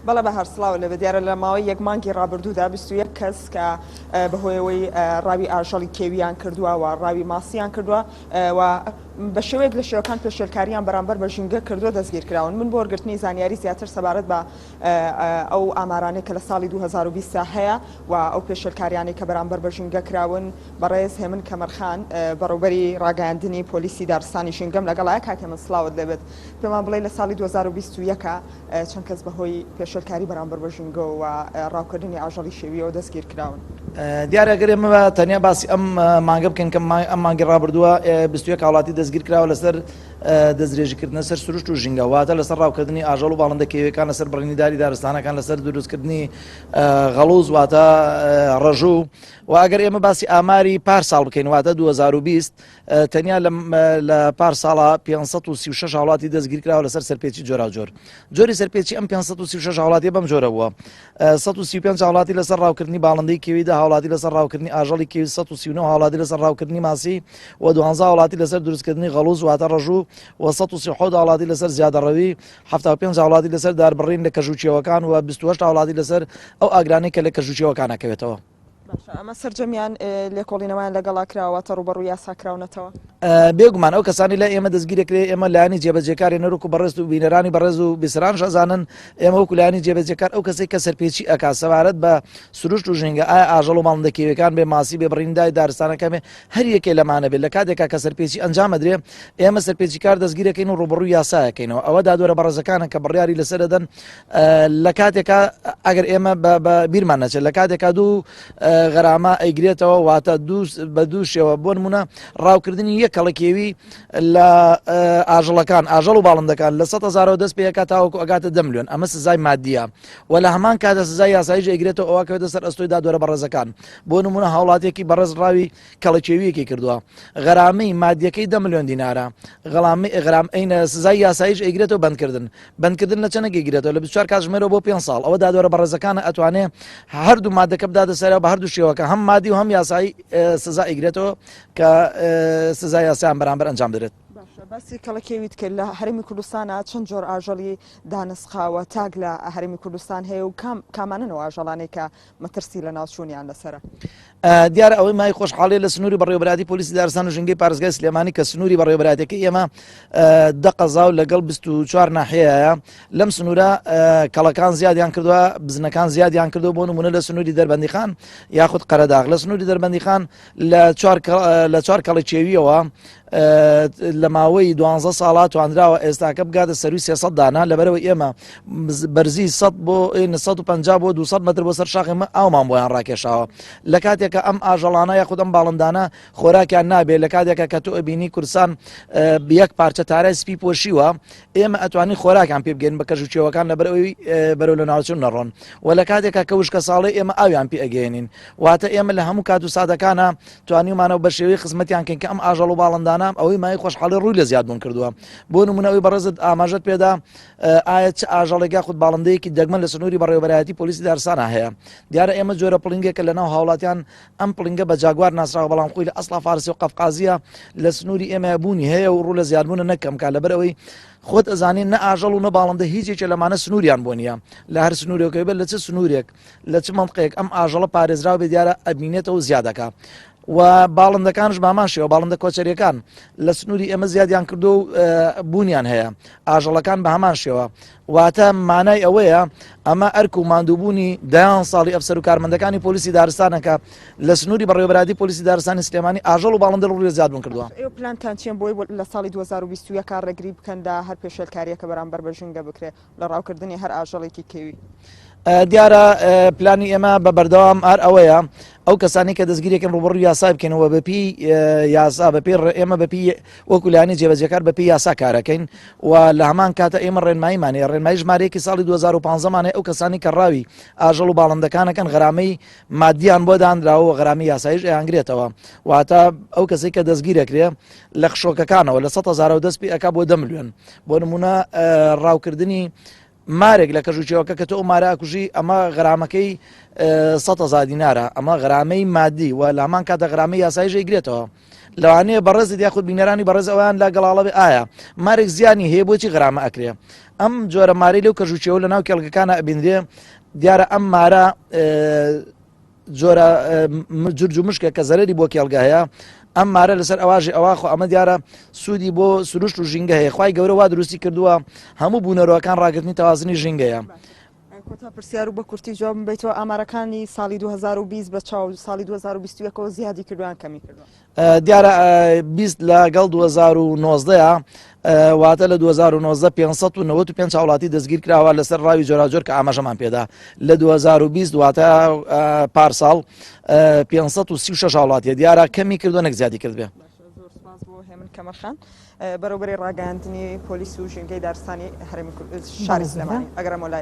بەڵێ بەهار سڵاو لێبێت دیارە لە ماوەی یەک مانگی ڕابردوودا 21 کەس کە بەهۆیەوەی ڕاوی ئاژەڵی کێویان کردووە و ڕاوی ماسییان کردووە و بە شێوەیەک لە شێوەکان پێشێلکاریان بەرامبەر بە ژینگە کردووە دەستگیر کراون من بۆ وەرگرتنی زانیاری زیاتر سەبارەت بە ئەو ئامارانەی کە لە ساڵی دوو هەزار و بیست هەیە و ئەو پێشێلکاریانەی کە بەرامبەر بە ژینگە کراون، بەڕێز هێمن کەمەرخان، بەڕێوبەری ڕاگەیاندنی پۆلیسی دارستانی ژینگەم لەگەڵایە، کاک هێمن سڵاوت لێ بێت، پێمان بڵێی لە ساڵی دوو هەزار و بیست و یەک چەند کەس بە هۆی پێشێلکاری بەرامبەر بە ژینگەوە و ڕاوکردنی ئاژەڵی شێوییەوە دەستگیر کراون؟ دیارە گەر ئێمە تەنیا باسی ئەم مانگە بکەین کە ئەم مانگی ڕابردووە بیست و یەک هاوڵاتی دەستگیر کراوە لەسەر. دەستدرێژیکردنە سەر سروشت و ژینگە، واتە لەسەر ڕاوکردنی ئاژەڵ و باڵندە کێوییەکان، لەسەر بڕینی داری دارستانەکان، لەسەر دروستکردنی غەڵووز واتە ڕەژوو و ئەگەر ئێمە باسی ئاماری پار ساڵ بکەین واتە 2020 تەنیا لە پار ساڵە 536 هاوڵاتی دەستگیرکراوە لەسەر سەرپێچی جۆراوجۆر جۆری سەرپێچی ئەم 536 هاوڵاتی بەم جۆرە بووە سەد و سی و پێنج هاوڵاتی لەسەر ڕاوکردنی باڵندەی کێوی، دە هاوڵاتی لەسەر ڕاوکردنی ئاژەڵی کێوی، سەد و سی و نۆ هاوڵاتی لەسەر ڕاوکردنی ماسی و دوانزە هاوڵاتی لەسەر دروستکردنی غەڵووز واتە ڕەژوو و سەد و سی و حەوت هاوڵاتی لەسەر زیادەڕەوی، حەفتا و پێنج هاوڵاتی لەسەر داربڕین لە کەژووچێوەکان و بیست و هەشت هاوڵاتی لەسەر ئەو ئاگرانەی کە لە کەژووچێوەکان ئەکەوێتەوە. باشە ئەمە سەرجەمیان لێکۆڵینەوەیان لەگەڵا کراوە واتە ڕوبەڕوو یاسا کراونەتەوە؟ بێگومان ئەو کەسانی لە ئێمە دەستگیرەکرێ ئێمە لانی جێبەجێکاری نەرۆک و بەڕێز و بینەرانی بەڕێز و بیسران شەزانن ئێمە وەکو لانی جێبەجێکار ئەو کەسی کە سەرپێچی ئەک سەبارەت بە سروشت و ژینگە ئایا ئاژەڵ و ماڵندەکیەکان بێ ماسی بێ بڕیندای دارستانەکەمێ هەر یەکێ لەمانە بێت لە کاتێکا کە سەرپێچی ئەنجامەدرێ ئێمە سەرپێچی کار دەستگیرەکەین و ڕوبڕوو یاساەکەینەوە ئەوە دادوەرە بەڕێزەکانە کە بڕیاری لەسەر دەدەن لە کاتێکا ئەگەر ئێمە بە بیرمان نەچێت لە کاتێکا دوو غەرامە ئەیگرێتەوە واتە بە دووشەوە بۆ نمونە ڕاوکردنی یەک کەڵکێوی لە ئاژەڵەکان ئاژەڵ و باڵندەکان لە سە هزارەوە دەست پێکات تاوەکو ئەگاتە دەملیۆن ئەمە سزای مادیە و لە هەمان کاتە سزای یاسایش ئەگرێتەوە ئەوکەوێتە سەر ئەستۆی دادوەرە بەڕێزەکان بۆ نمونە هاوڵاتێکی بەڕێز ڕاوی کەڵەکێویەکی کردووە غەرامەی مادیەکەی دە ملیۆن دینارە غەڵامی ئغرام ئەینە سزای یاسایش ئەیگرێتەوە بەندکردن بەندکردن لە چەنەگە گرێتەوە لە 24 کاتژمێرەوە بۆ پێ ساڵ ئەوە دادوەرە بەڕێزەکانە ئەتوانێ هەردوو مادەکە بداتە سەرەوە بە هەردوو شێوەکە هەم مادی و هەم یاسایی سزا ئیگرێتەوە کە سزا یاسایان بەرامبەر ئەنجام درێت باسی کەڵکێویت کرد لە هەرمی کوردستانە چەند جۆر ئاژەڵی دانسقاوە تاک لە هەرمی کوردستان هەیە و کام کامانەوە ئاژەڵانێکە مەترسی لەناوچوونیان لەسەرە. دیارە ئەوەی مای خۆشحاڵێ لە سنووری بەڕێوبراتی پلیسی دارستان و ژنگی پارێزگای سلێمانی کە سنووری بەڕێوبراتەکە ئێمە دەقەزا و لەگەڵ 24 ناحەیە لەم سنوورە کەڵەکان زیادیان کردووە بزنەکان زیادیان کردو بۆ نمونە لە سنووری دەربەندیخان یاخود قەرەداغ لە سنووری دەربەندیخان لە لە چوار کەڵی چێویەوە لە ماوەی دوانزە ساڵا تواندراوە ئێستاکە بگاتە سەروی سێسە دانا لەبەرەوە ئێمە بەرزی سە بۆ 1950 بۆ 200 متر بۆ سەر شاخی من ئاومان بۆیان ڕاکێشاوە لە کاتێکە ئەم ئاژەڵانە یاخود ئەم باڵندانە خۆراکیان نابێت لە کاتێکە کە تۆ ئەبینی کورسان یەک پارچە تارای سپی پۆشیوە ئێمە ئەتوانین خۆراکیان پێ بگەین بە کەژ و چێوەکان لەبەر ئەوی بەرەو لە ناوچون نەڕۆن و لە کاتێکا کە وشکە ساڵی ئێمە ئاویان پێ ئەگەێنین واتە ئێمە لە هەموو کات و سادەکانە توانیمانەوە بە شێوەی خزمەتیان کەین کە ئەم ئاژەڵ و باڵندانە ئەوەی مای خۆشحاڵی ڕووی لە زیادبوون کردووە بۆ نمونەوەی بەڕێزت ئاماژت پێدا ئایا چ ئاژەڵێکا خود باڵندەیەکی دەگمەن لە سنووری بەڕێوەبەرایەتی پۆلیسی دارسانە هەیە دیارە ئێمە جۆرە پڵنگێکە لە ناو هاوڵاتیان ئەم پڵنگە بە جاگوار ناسراوە بەڵام خۆی لە ئەسڵا فارسە و قەفقازییە لە سنووری ئێمەیە بوونی هەیە و ڕوو لە زیادبوونە نەکەم کا لەبەر ئەوەی خۆت ئەزانین نە ئاژەڵ و نە باڵندە هیچ یەکێ لەمانە سنووریان بۆ نییە لە هەر سنوورێکەوەی بەر لە چ سنوورێک لە چ مەمقەیەک ئەم ئاژەڵە پارێزراو بێ دیارە ئەبینێتەوە زیادەکە و باڵندەکانش باماشەوە باڵندە کۆچەریەکان لە سنووری ئێمە زیادیان کردو و بوونیان هەیە ئاژەڵەکان بە هەمان شێوە واتە مانای ئەوەیە ئەمە ئەرک و ماندووبوونی دەیان ساڵی ئەفسەر و کارمەندەکانی پۆلیسی دارستانەکە لە سنووری بەڕێوەبراتی پۆلیسی دارستانی سلێمانی ئاژەڵ و باڵندە ڕووی زیاد بوون کردووە. ئێوە پلانتان چییە بۆی لە ساڵی دوو هەزار و بیست و یەک ڕێگری بکەن لە هەر پێشێلکارییەکە بەرامبەر بە ژینگە بکرێت لە ڕاوکردنی هەر ئاژەڵێکی کێوی؟ دیارە پلانی ئێمە بە بەردەوام ئار ئەوەیە ئەو کەسانی کە دەستگیرێکن ڕوبڕ یاسای بکەنەوە بەپی یاسا بەپێ ئێمە بەپی وەکو لایەنی جێبەجێکار بە پێی یاسا کارەکەین و لە هەمان کاتە ئێمە ڕێنماییمان هەیە، ڕێنمایی ژمارەیەکی ساڵی دوو هەزار و پازدە مان هەیە، ئەو کەسانەی کە ڕاوی ئاژەڵ و باڵندەکانەکەن غەرامەی ماددییان بۆ دانراوە و غەرامی یاساییش ئەیانگرێتەوە، واتە ئەو کەسەی کە دەستگیر ئەکرێ لە خشۆکەکانەوە لە سەد هەزارەوە دەست پێ ئەکا بۆ دە ملیۆن، بۆ نموونە ڕاوکردنی مارێک لە کەژ و کێوەکە کە تۆ ئەو مارە ئەکوژی ئەمە غەرامەکەی سەد هەزار دینارە ئەمە غەرامەی مادی و لامان کاتە غەرامەی یاسایش ئەیگرێتەوە لەوانەیە بەڕێزت یاخود بینەرانی بەڕێز ئەویان لا گەڵاڵە بێ ئایا مارێک زیانی هەیە بۆچی غەرامە ئەکرێ ئەم جۆرە ماری لەو کەژوچێەوە لە ناو کێڵگەکانە ئەبینرێ دیارە ئەم مارە جۆرە جرج و مشکە کە زەرری بۆ کێڵگە هەیە ئەم مارە لەسەر ئەواژی ئەواخۆ ئەمە دیارە سوودی بۆ سروشت و ژینگە هەیە خی گەورەوا دروستی کردووە هەموو بوونەرەوەکان ڕاگرتنی تەوازنی ژینگەیە. کۆتا پرسیار و بە کورتی جواب بیتەوە ئامارەکانی ساڵی 2020 بە چاو ساڵی 2021ەوە زیادی کردوان کەمی کردوە دیارە بیست لە گەڵ 2019 واتە لە 2019 595 هاوڵاتی دەستگیر کراوە لەسەر ڕاوی جۆراجۆر کە ئاماژەمان پێدا لە 2020 واتە پارساڵ 536 هاوڵاتیە دیارە کەمی کردو نەک زیادی کرد بێ هێمن کەمەرخان بەرەوبەری ڕاگەاندنی پۆلیس و ژینگەی دارستانی هەرمی شاری سلێمانی ئەگەرمەلای